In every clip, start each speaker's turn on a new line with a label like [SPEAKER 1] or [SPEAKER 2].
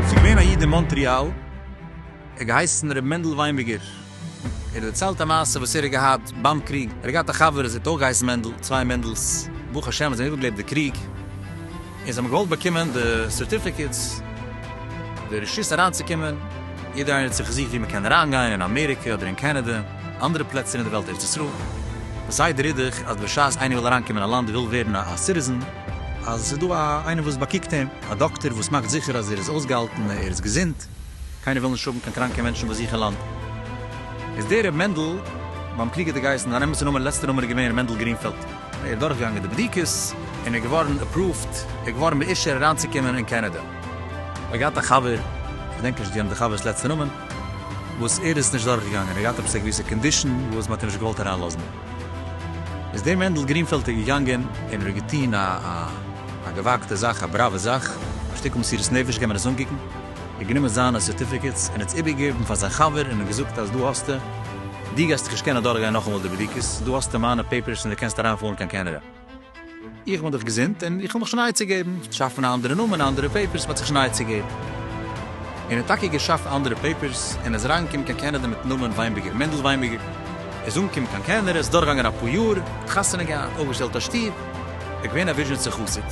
[SPEAKER 1] ס'איז געווען א איד אין מאנטריאל, ער האט געהייסן ר' מענדל וויינבערגער, ער האט דערציילט א מעשה וואס ער האט געהאט ביים קריג, ער האט געהאט א חבר עס האט אויך געהייסן מענדל, צוויי מענדל'ס, ברוך השם זיי זענען איבערגעלעבט די קריג. און זיי האבן געוואלט באקומען די סערטיפיקעטס די רשות אריינצוקומען, יעדער איינער האט זיך געזוכט ווי מען קען אריינגיין אין אמעריקע אדער אין קענעדע, אנדערע פלעצער אין די וועלט ארץ ישראל, וואס זיי די רידעך אז בשעת איינער וויל אריינקומען אין א לאנד וויל ווערן א סיטיזען, אז עס איז דא א איינער וואס באקוקט אים, א דאקטער וואס מאכט זיכער אז ער איז אויסגעהאלטן ער איז געזונט, קיינער וויל נישט האבן קיין קראנקע מענטשן ביי זיך אין לאנד, איז דער ר' מענדל, ביים קריג האט ער געהייסן, זיין אמת'ע נאמען לעצטע נאמען איז געווען ר' מענדל גרינפעלד. ער איז דורכגעגאנגען די בדיקות און איז געווארן עפראווט, ער איז געווארן באישור אריינצוקומען אין קענעדע. ער האט געהאט א חבר, כ'געדענק נישט גענוי די חבר'ס לעצטע נאמען, וואס ער איז נישט דורכגעגאנגען, ער האט געהאט עפעס א געוויסע קאנדישאן וואס מ'האט אים נישט געוואלט אריינלאזן. איז דער מענדל גרינפעלד איז געגאנגען און ער האט געטון א געוואגטע זאך, א בראווע זאך, א שטיקל מסירות נפש, גיימיר עס אנקוקן. האט גענומען זיינע סערטיפיקעטס און האט עס איבערגעגעבן פאר זיין חבר און אים געזאגט אז דא האסטו, דו גייסט זיך נישט קענען אדורכגיין נאכאמאל די בדיקות, דא האסטו מיינע פעיפערס און דו קענסט אריינפארן קיין קענעדע. איך בין דאך געזונט און איך וויל מיך שוין נייע צוגעבן, שאפן א אנדערע נאמען, אנדערע פעיפערס, מען האט זיך שוין נייע צוגעבן. און ער האט טאקע געשאפט אנדערע פעיפערס און איז אריינגעקומען קיין קענעדע מיטן נאמען וויינבערגער, מענדל וויינבערגער, איז אנגעקומען קיין קענעדע, איז דורכגעגאנגען אפאר יאר, האט חתונה געהאט, אויפגעשטעלט א שטוב, איז געווען א וויזשניצער חסיד.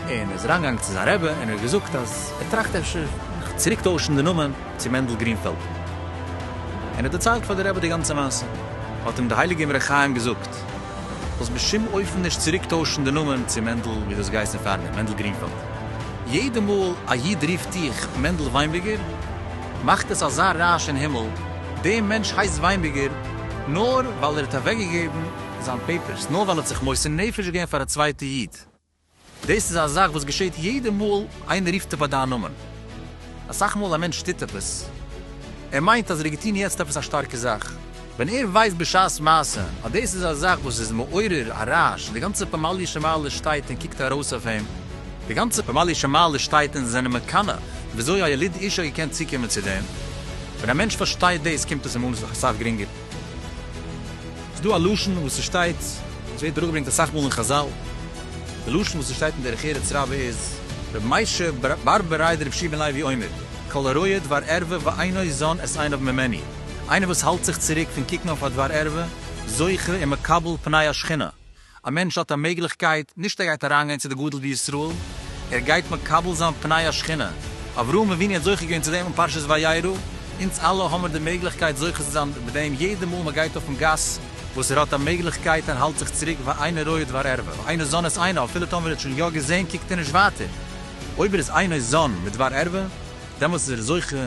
[SPEAKER 1] און ער איז אריינגעגאנגען צו זיין רבי און ער האט געזאגט אז ער טראכט אפשר זיך צוריק טוישן די נאמען צו מענדל גרינפעלד, און ער האט דערציילט פאר די רבי די גאנצע מעשה, האט אים די הייליגע אמרי חיים געזאגט, זאלסט בשום אופן נישט צוריק טוישן די נאמען צו מענדל ווי דו האסט געהייסן פארדעם, מענדל גרינפעלד. יעדע מאל א איד רופט דיך מענדל וויינביגער, מאכט עס אזא רעש אין הימל, דער מענטש הייסט וויינביגער נאר ווייל ער האט אוועקגעגעבן זיין פעיפערס, נאר ווייל ער האט זיך מוסר נפש געווען פאר א צווייטע איד. דאס איז א זאך וואס געשעהט יעדע מאל איינער רופט דיך ביי דיין נאמען. אסאך מאל א מענטש טוט עפעס, ער מיינט אז ער האט געטון יעצט עפעס א שטארקע זאך, ווען ער ווייסט בשעת מעשה אז דאס איז א זאך וואס איז מעורר א רעש, די גאנצע פמליא שמעליא שטייט און קוקט ארויס אויף אים, די גאנצע פמליא שמעליא שטייט און זענען מקנא וויאזוי א יליד איש האט געקענט צוקומען צו דעם, ווען א מענטש פארשטייט דאס קומט עס אים אן אסאך גרינגער. ס'איז דא א לשון וואס ס'שטייט, און ס'ווערט אראפגעברענגט אסאך מאל אין חזל, די לשון וואס ס'שטייט אין דרך ארץ רבה איז, רבי משה בר ב ריי דרבי שמעון לוי אומר, כל הרואה דבר ערווה ואינו זון את עיניו ממני, איינער וואס האלט זיך צוריק פון קוקן אויף א דבר ערווה, זוכה און מקבל פני השכינה. א מענטש האט א מעגליכקייט, נישט ער גייט אריינגיין צו די גדול בישראל, ער גייט מקבל זיין פני השכינה, אברהם אבינו האט זוכה געווען צו דעם אין פרשת וירא, אונז אלע האמיר די מעגליכקייט זוכה צו זיין מיט דעם יעדע מאל מען גייט אויפן גאס, וואס ער האט א מעגליכקייט ער האלט זיך צוריק ואינו רואה את דבר ערווה, ואינו זן את עיניו, אפילו טאמער ער האט שוין יא געזען קוקט ער נישט ווייטער, אויב ער איז אינו זן מיט דבר ערווה, דעמאלטס איז ער זוכה.